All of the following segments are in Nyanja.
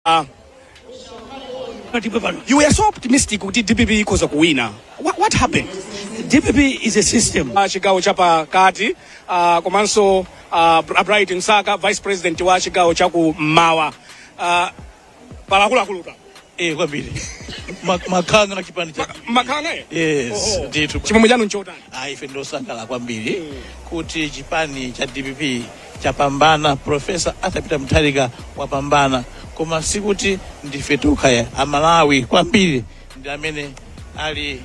Ah, Tatipwe pano. you were so optimistic kuti dpp ikhoza kuwina what, what happened DPP is a system. Ah, chigawo chapakati ah, komanso ah, Br- bright msaka vice president wa chigawo chaku mmawa Ah, pali akuluakulutu Eh, kwambiri. Ma- Makanga na chipani cha. makanga eh? Yes, Oh, oh. ndithu. chimwemwe chanu nchotani Ah, ife ndosangala kwambiri kuti chipani cha DPP chapambana profesa arthur peter mutharika wapambana koma sikuti ndife tokha amalawi kwambiri ndi amene ali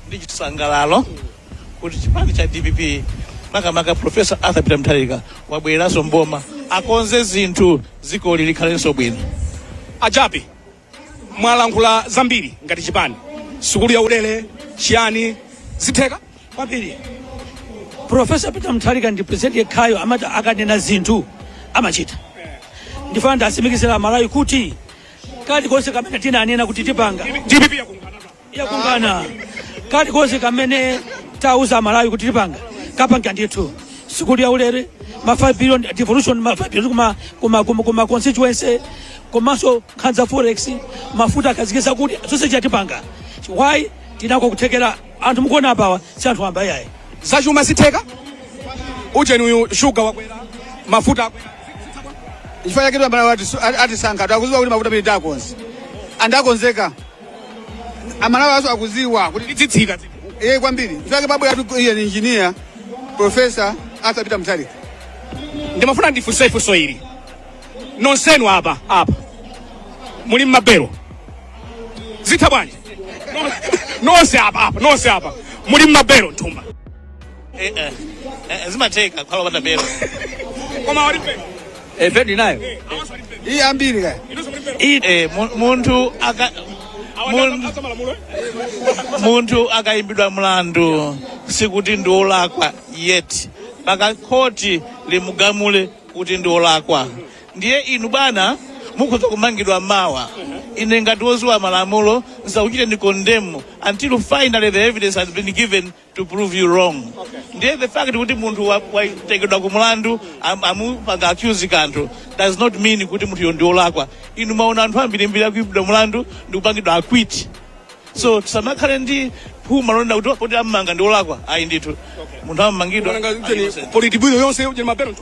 ndi chisangalalo kuti chipani cha dpp makamaka profesa arthur peter mutharika wabwereranso mboma akonze zinthu dzikoli likhalenso bwino a Jappie mwalankhula zambiri ngati chipani sukulu ya ulere chiyani zitheka kwambiri profesa peter mutharika ndi president yekhayo amati akanena zinthu amachita ndifuna ndiwatsimikizire amalawi kuti kalikonse kamene tinanena kuti tipanga dpp yakunga yakungana kalikonse kamene tauza amalawi kuti tipanga tikapanga ndithu sukulu yaulere ma 5 billion devolution ma 5 billion kuma kuma kuma, kuma constituency komanso nkhanza forex mafuta takhazikitsa kuti zonse izi tipanga why tili nako kuthekera anthu mukuona apawa si anthu wamba yayi zachuma zitheka ujeni uyu shuga wakwera mafuta akwera. chifukwa chake timati anatisankha akudziwa kuti mafuta amene takonze andakonzeka amalawi onse akudziwa kuti tizitsitsa iye kwambiri chake babu yatu iyi ndi engineer professor arthur peter mutharika ndimafuna ndifunse funso ili nonsenu apa apa muli mmabelo zitheka bwanji nonse apa apa nonse apa muli mmabelo nthumba Eh, eh, eh, zimatheka kukhala opanda belo koma ali pa Eh, ben phiri nayo awanso walipe iyi ambiri kaya inonso walipe Iyi, eh, mu- munthu aka mun- awanso malamulo munthu akayimbidwa mlandu sikuti ndi olakwa yet mpaka khoti limugamule kuti ndi olakwa ndiye inu bwana mukhoza kumangidwa mawa ine ngati woziwa malamulo nsakuchiteni condemn until finally the evidence has been given to prove you wrong ndiye the fact kuti munthu wa- watengedwa ku mulandu am- amupanga accuse kanthu does not mean kuti munthuyo ndi olakwa inu mwaona anthu ambirimbiri akuimbidwa mulandu ndi kupangidwa acquit so tisamakhale ndi phuma lonena kuti poti amumanga ndi olakwa ayi ndithu munthu amamangidwa Nanga ujeni politburo yonse ujeni mabelo tu.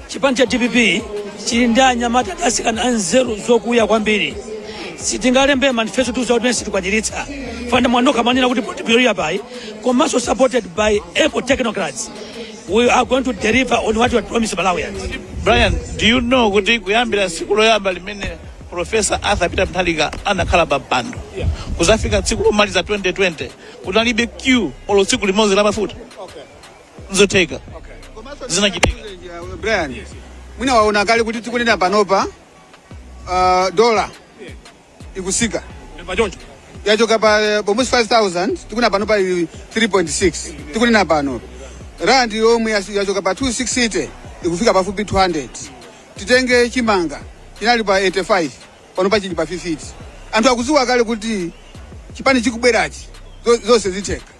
Chipani cha dpp chili ndi anyamata ndi atsikana anzeru zokuya kwambiri sitingalembe manifesto ti za kuti ife sitikwaniritsa pajatu mwanokha mwanena kuti politburo yapayi komanso supported by able technocrats we are going to deliver on what we promised malawians brian do you know kuti kuyambira tsiku loyamba limene profesa arthur peter mutharika anakhala pa mpando kuzafika tsiku lomaliza 2020 kunalibe queue olo tsiku limodzi la mafuta nzotheka zinachitika brian mwina waona kale kuti tikunena panopa uh, dola ikutsika pachoncho yachoka pa eh, almost 5000 tikunena panopa 3.6 tikunena pano rand yomwe yas- yachoka pa 260 ikufika pafupi 200 titenge chimanga chinali pa 85 panopa chili pa 50 anthu akudziwa kale kuti chipani chikubwerachi zo- zonse zitheka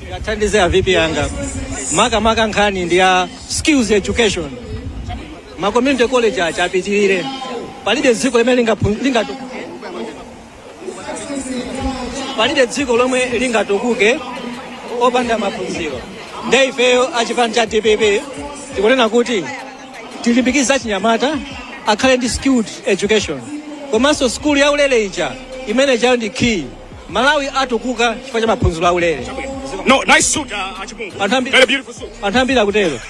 ndingathandize a vp anga makamaka nkhani ndi ya skills education ma community college aja apitirire palibe dziko limene lingaphu- lingatu- palibe dziko lomwe lingatukuke opanda maphunziro nde ifeyo achipani cha dpp tikunena kuti tilimbikitse achinyamata akhale ndi skilled education komanso skulu yaulere ija imene ijayo ndi key malawi atukuka chifukwa cha maphunziro aulere no nice suit uh, achipungu Anthu ambi- very beautiful suit anthu ambiri akutero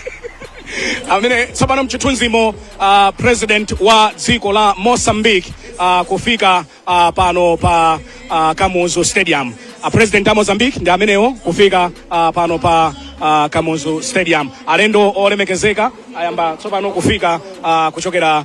amene tsopano mchithunzimo uh, president wa dziko la mozambique uh, kufika uh, pano pa uh, kamuzu stadium uh, president wa mozambique ndi amenewo kufika uh, pano pa uh, kamuzu stadium alendo olemekezeka ayamba tsopano kufika uh, kuchokera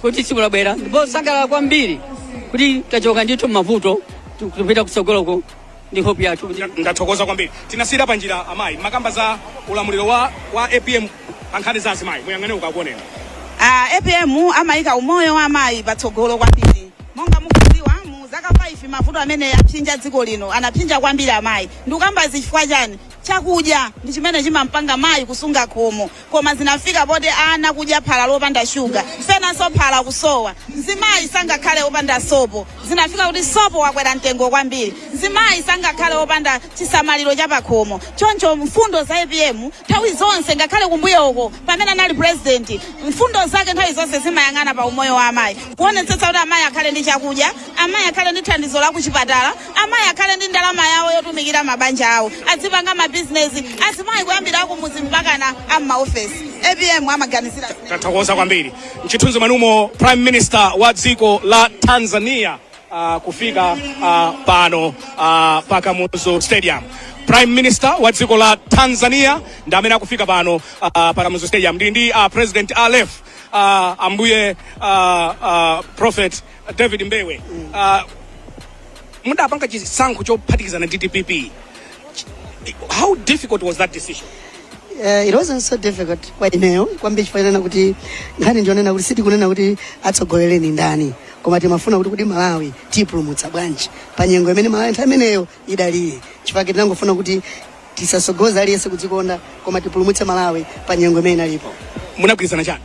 kuti tsikuli labwera ndipo ndasangalala kwambiri kuti tachoka ndithu m'mavuto tikupita kutsogoloko ndi hope yathu kuti ndathokoza kwambiri tinasiyira panjira amayi mumakamba za ulamuliro wa, wa apm pa nkhani za azimayi muyang'ane ndikuoneni Ah, apm amaika umoyo wa amayi patsogolo kwambiri monga mukudziwa mu zaka 5 mavuto amene apsinja dziko lino anapsinja kwambiri amayi ndikukamba zifukwa chani chakudya ndi chimene chimampanga mayi kusunga khomo koma zinafika poti ana kudya phala lopanda shuga penanso phala kusowa mzimayi sangakhale opanda sopo zinafika kuti sopo wakwera mtengo kwambiri mzimayi sangakhale opanda chisamaliro cha pakhomo choncho mfundo za apm nthawi zonse ngakhale kumbuyoko pamene anali president mfundo zake nthawi zonse zimayang'ana pa umoyo wa amayi kuonetsetsa kuti amayi akhale ndi chakudya amayi akhale ndi thandizo la kuchipatala amayi akhale ndi ndalama yawo yotumikira mabanja awo azipanga mabizinesi azimayi kuyambira akumudzi mpakana ammaofesi apm amaganizira tathokoza kwambiri mchithunzi mwanumo prime minister wa dziko la tanzania uh, kufika uh, pano uh, pa kamuzu stadium prime minister wa dziko la tanzania ndi amene akufika pano uh, pa kamuzu stadium ndi ndi uh, president alef uh, ambuye uh, uh, prophet david mbewe uh, mudapanga chisankho chophatikizana ndi dpp how difficult was that decision uh, it wasn't so difficult kwa ineyo kwambiri chifukwa chonena kuti nkhani ndi yonena kuti sitikunena kuti atsogolere ndi ndani koma timafuna kuti kuti malawi tipulumutsa bwanji pa nyengo imene malawi nthawi imeneyo idalili chifukwa tinangofuna kuti tisatsogoze aliyense kudzikonda koma tipulumutse malawi pa nyengo imene inalipo munagwirizana chani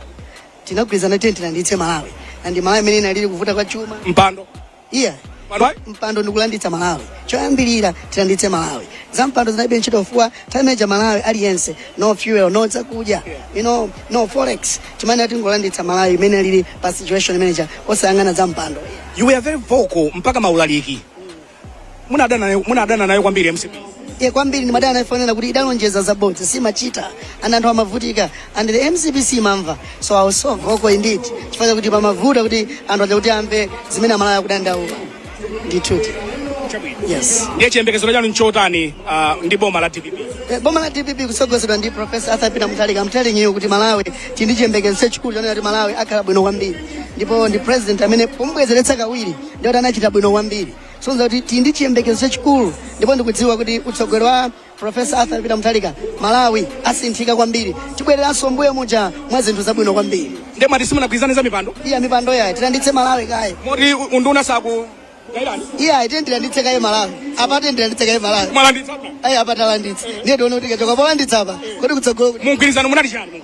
Tinagwirizana tiyeni tilanditse Malawi and Malawi mene inalili kuvuta kwa chuma. Mpando. Iya. Mpando. Mpando ndikulanditsa Malawi. Choyambirira tilanditse Malawi. Za mpando zinalibe ntchito chifukwa time ija Malawi aliyense no fuel no zakudya. You know no forex. Timanena tingolanditsa Malawi mene alili pa situation imene ija osayang'ana za mpando. You were very vocal mpaka maulaliki. munadana nayo munadana nayo kwambiri mcp ye kwambiri ndimadana nayo chifukwa chonena kuti idalonjeza zabodza siimachita and anthu amavutika and the mcp siimamva so i was so vocal indeed chifukwa chakuti pamavuta kuti anthu aja kuti amve zimene amalawi akudandaula ndithuti yes ndiye chiyembekezero chanu nchotani ah, ndi boma la dpp Eh, boma la dpp kutsogozedwa ndi profesa arthur peter mutharika i'm telling you kuti malawi tili ndi chiyembekezo chachikulu chonena kuti malawi akhala bwino kwambiri ndipo ndi president amene pomubwezeretsa kawiri ndikuti anachita bwino kwambiri kusonyeza kuti tili ndi chiyembekezo chachikulu ndipo ndikudziwa kuti utsogoleri wa profesa arthur peter mutharika malawi asinthika kwambiri tibwereranso mbuyo muja mwa zinthu zabwino kwambiri nde mwati simunagwirizane za mipando iya mipando yayi tilanditse malawi kaye moti u- unduna sakugairani iyayi timati tilanditse kaye malawi apa timati tilanditse kaye malawi mwalanditsa ayi apa talanditsa ndiye tione kuti kuchoka polanditsa apa kodi kutsogolo kuti mumgwirizano munali chani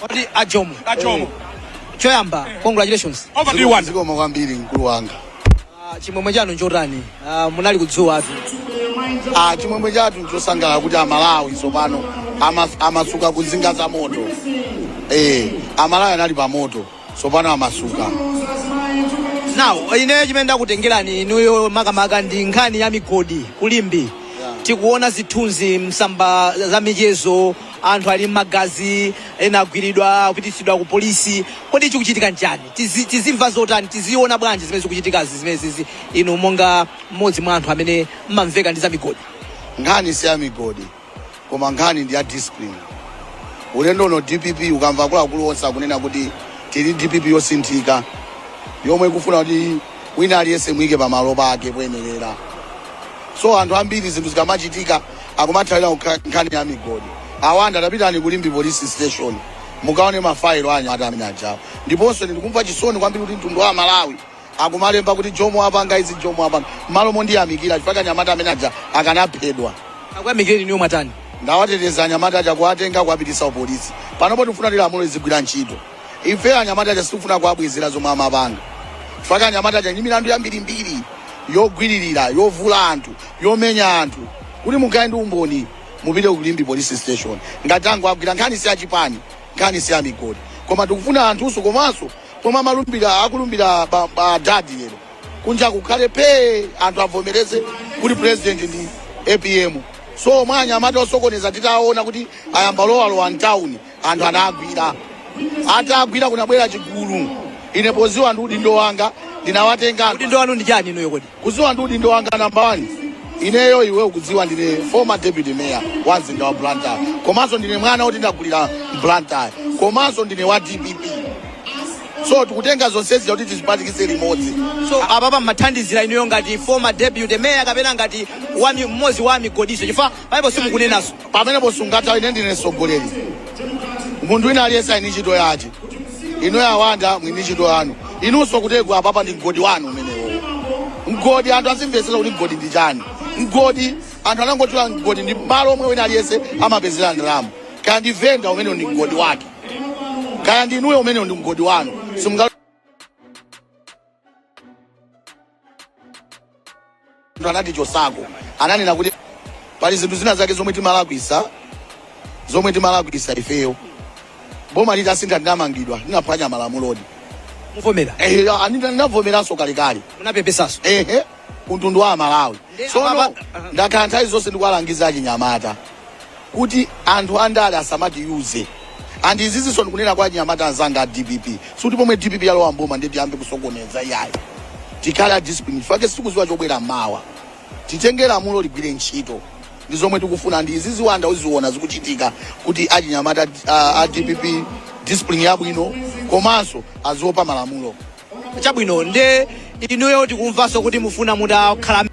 Kodi ajomo. Ajomo. Choyamba, congratulations. Over to you one. Zikomo kwambiri mkulu wanga. Ah, Chimwemwe chanu nchotani? Ah, Munali ku dzuwatu. Ah, chimwemwe chathu nchosangalala kuti amalawi tsopano amas- amasuka ku nsinga za moto eh amalawi anali pa moto tsopano amasuka now ineyo chimene ndakutengerani inuyo makamaka ndi nkhani ya migodi ku Limbe tikuona zithunzi msamba za michezo anthu ali mmagazi ena agwiridwa kupititsidwa ku polisi kodi chikuchitika nchani Tizi- tizimva zotani tiziona bwanji zimene zikuchitikazi zimenezizi inu monga mmodzi mwa anthu amene mmamveka ndi za migodi nkhani si ya migodi koma nkhani ndi ya discipline ulendo uno dpp ukamva akuluakulu onse akunena kuti tili dpp yosinthika yomwe ikufuna kuti wina aliyense amuyike pamalo pake poyenerera so anthu ambiri zinthu zikamachitika akumathawira kukha- nkhani ya migodi awanda tapitani ku limbe police station mukaone mafailo anyamata amene ajawo ndiponso ndikumva chisoni kwambiri kuti mtundu wa malawi Akumalemba kuti Jomo wapanga izi Jomo wapanga mmalo mondiyamikira chifukwa anyamata amene aja akanaphedwa. Akuyamikireni inuyo mwatani? Ndawateteza anyamata aja kuwatenga kuwapitisa ku police. Panopo tikufuna kuti lamulo lizigwira ntchito. Ifeyo anyamata aja sitikufuna kuwabwezera zomwe amapanga chifukwa anyamata aja ali ndi milandu yambirimbiri yogwiririra, yovula anthu, yomenya anthu. Kuti mukhale ndi umboni mupite ku Limbe police station ngati tangowagwira. Nkhani si ya chipani, nkhani si ya migodi koma tikufuna anthunso komanso Pomwe amalumbila akulumbila ba, ba dadi lero kunja kukhale phee anthu avomereze kuti president ndi apm so omwe anyamata osokoneza titaona kuti ayamba kulowalowa mtawuni anthu anagwira atagwira kunabwera chigulu ine poziwa ndi udindo wanga ndinawatenga anthu udindo wanu ndi chani inuyo kodi kudziwa ndi udindo wanga namba wani ineyo iwe ukudziwa ndine former deputy mayor wa mzinda wa blantyre komanso ndine mwana woti ndakulira mblantyre komanso ndine wa dpp so tikutenga zonsezi kuti tizipatikise limodzi so apapa mmathandizira inuyo ngati former deputy mayor kapena ngati wa mi- mmodzi wa migodiso chifukwa pa ipo simukunenaso pamenepo sungatha ine ndine mtsogoleri munthu wina aliyense ali ndi ntchito yake inuyo awanda muli ndi ntchito yanu inunso kutegwa apapa ndi mgodi wanu umenewo mgodi anthu azimvetsera kuti mgodi ndi chani mgodi anthu anangotula mgodi ndi malo omwe wina aliyense amapezera ndalama kaya ndi venda umenewo ndi mgodi wake kaya ndi inuyo umenewo ndi mgodi wanu simunga Ndo anati chosako ananena kuti pali zinthu zina zake zomwe timalakwisa zomwe timalakwisa ifeyo boma litasintha ndinamangidwa ndinaphwanya malamulodi mukuvomera ehe ani ndinavomeranso kalekale munapepesanso ehe kumtundu wa amalawi Ndi sono amaba- ndakhala nthawi zonse ndikuwalangiza achinyamata kuti anthu andale asamatiuze and izizinso ndikunena kwa achinyamata anzanga a dpp sikuti pomwe dpp yalowa mboma ndiye tiyambe kusokoneza iyayi tikhale a discipline chifukwa sitikuziwa chobwera mawa titenge lamulo ligwire ntchito ndi zomwe tikufuna and izizi awanda uziona zikuchitika kuti achinyamata a, a dpp discipline yabwino komanso aziopa malamulo chabwino nde inuyo tikumvanso kuti mukufuna mutakhala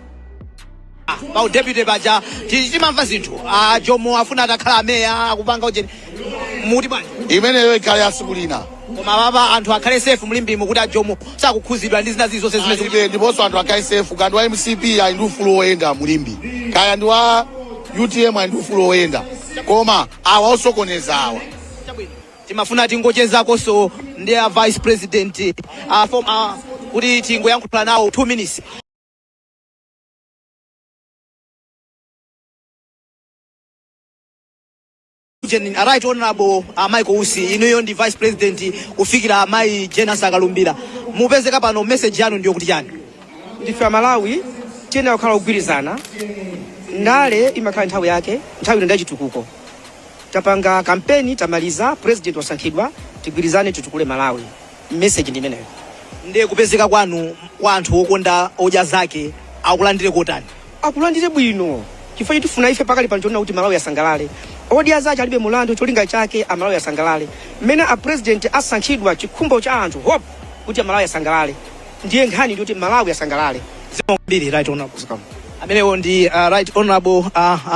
pa udepute paja ti- timamva zinthu a jomo afuna atakhala ameya akupanga ujeni muti bwana imeneyo ikhale ya tsiku lina koma apapa anthu akhale safe mu limbemu kuti a jomo sakukhudzidwa ndi zina zili zonse zimene zikuti alibe ndiponso anthu akhale safe kaya ndi wa mcp ali ndi ufulu woyenda mu limbe kaya ndi wa utm ali ndi ufulu woyenda koma awa osokoneza awa timafuna tingochezakonso ndi a vice president a former kuti tingoyankhula nawo 2 minutes Gen- right honorable uh, michael usi inuyo ndi vice president kufikira amayi jane ansah akalumbira mupezeka pano message yanu ndi yokuti chani ndife amalawi tiyenera kukhala ogwirizana ndale imakhala nthawi yake nthawi ino ndachitukuko tapanga kampeni tamaliza president wasankhidwa tigwirizane titukule malawi message ndi imeneyo nde kupezeka kwanu kwa anthu okonda odya zake akulandire kotani akulandire bwino chifukwa chomwe tifuna ife pakali pano chonena kuti malawi asangalale odya zace alibe mulandu cholinga chake amalawi asangalale mmene a president asankhidwa chikhumbo cha anthu hope kuti amalawi asangalale ndiye nkhani ndi kuti malawi asangalale zikomo kwambiri right honorable zikomo amenewo ndi uh, right honorable uh, uh,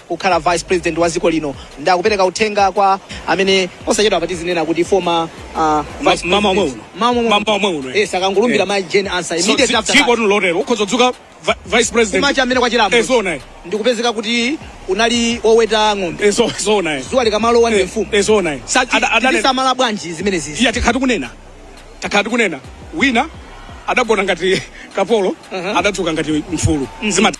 kukhala vice president wa dziko lino nde akupereka uthenga kwa amene osachedwa apa tizinena kuti former uh, vice mmawa omwe president. uno. Mmawa omwe Mmawa uno. omwe uno, eh. yes akangolumbira Eh. mai Jane Ansah So, immediately tsi- after tsiku that. oti lotero ukhoza kudzuka vi- vice president kumacha amene kwachilamo Eh, zoona eh. ndikupezeka kuti unali oweta ng'ombe Eh, zo- zoona eh. dzuwa likamalowa ndi Eh, mfumu eh, zoona eh. Sati- Ada- adane- tisamala bwanji zimenezi eya takhala tikunena takhala tikunena wina adagona ngati kapolo adadzuka ngati mfulu zimati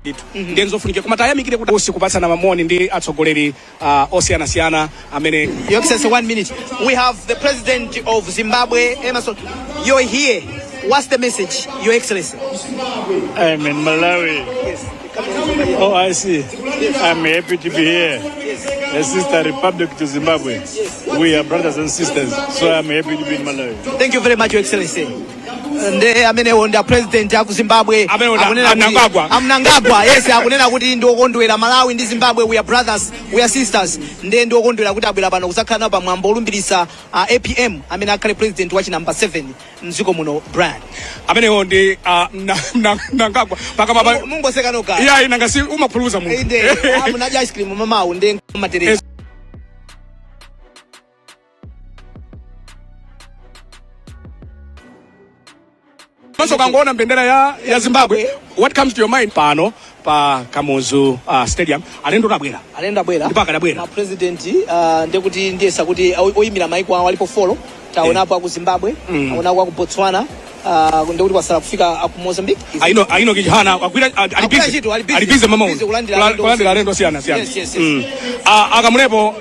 ndithu ndiye ndizofunikira koma tayamikire kuti usi kupatsana mamoni ndi atsogoleri ah, osiyanasiyana amene Your Excellency, one minute. We have the President of Zimbabwe, Emmerson. You're here. What's the message, Your Excellency? I'm in Malawi. Oh, I see. I'm happy to be here. A sister republic to Zimbabwe. We are brothers and sisters, so I'm happy to be in Malawi. Thank you very much, Your Excellency. Nde amenewo ndi a president aku Zimbabwe Amenewo na- akunena kuti- Mnangagwa. a Mnangagwa yes akunena kuti ndi okondwera Malawi ndi Zimbabwe we are brothers we are sisters ndi ndi okondwera kuti abwera pano kuzakhala nawo pa mwambo olumbiritsa a APM amene akhale president wa chi number 7 mdziko muno brian amenewo ndi ah, mna- mna- mnangagwa pakamwapa mungoseka nokha iyayi nanga si umaphuluza munthu inde ah, munadya ice cream mmawawu ndi matereza maso akangoona mbendera ya, ya zimbabwe what comes to your mind pano pa Kamuzu uh, Stadium alendo tabwera alendo abwera ndipo akadabwera ma president uh, ndekuti ndiyesa kuti oyimira maiko awo alipo folo tawonapo eh. aku Zimbabwe mm. aonapo aku Botswana uh, ndekuti kwatsala kufika aku Mozambique a Enoch a Enoch Chihana agwira ali bize ali bize mmawa uno kulandira alendo osiyanasiyana yes, yes, yes. mm. uh, akamulepo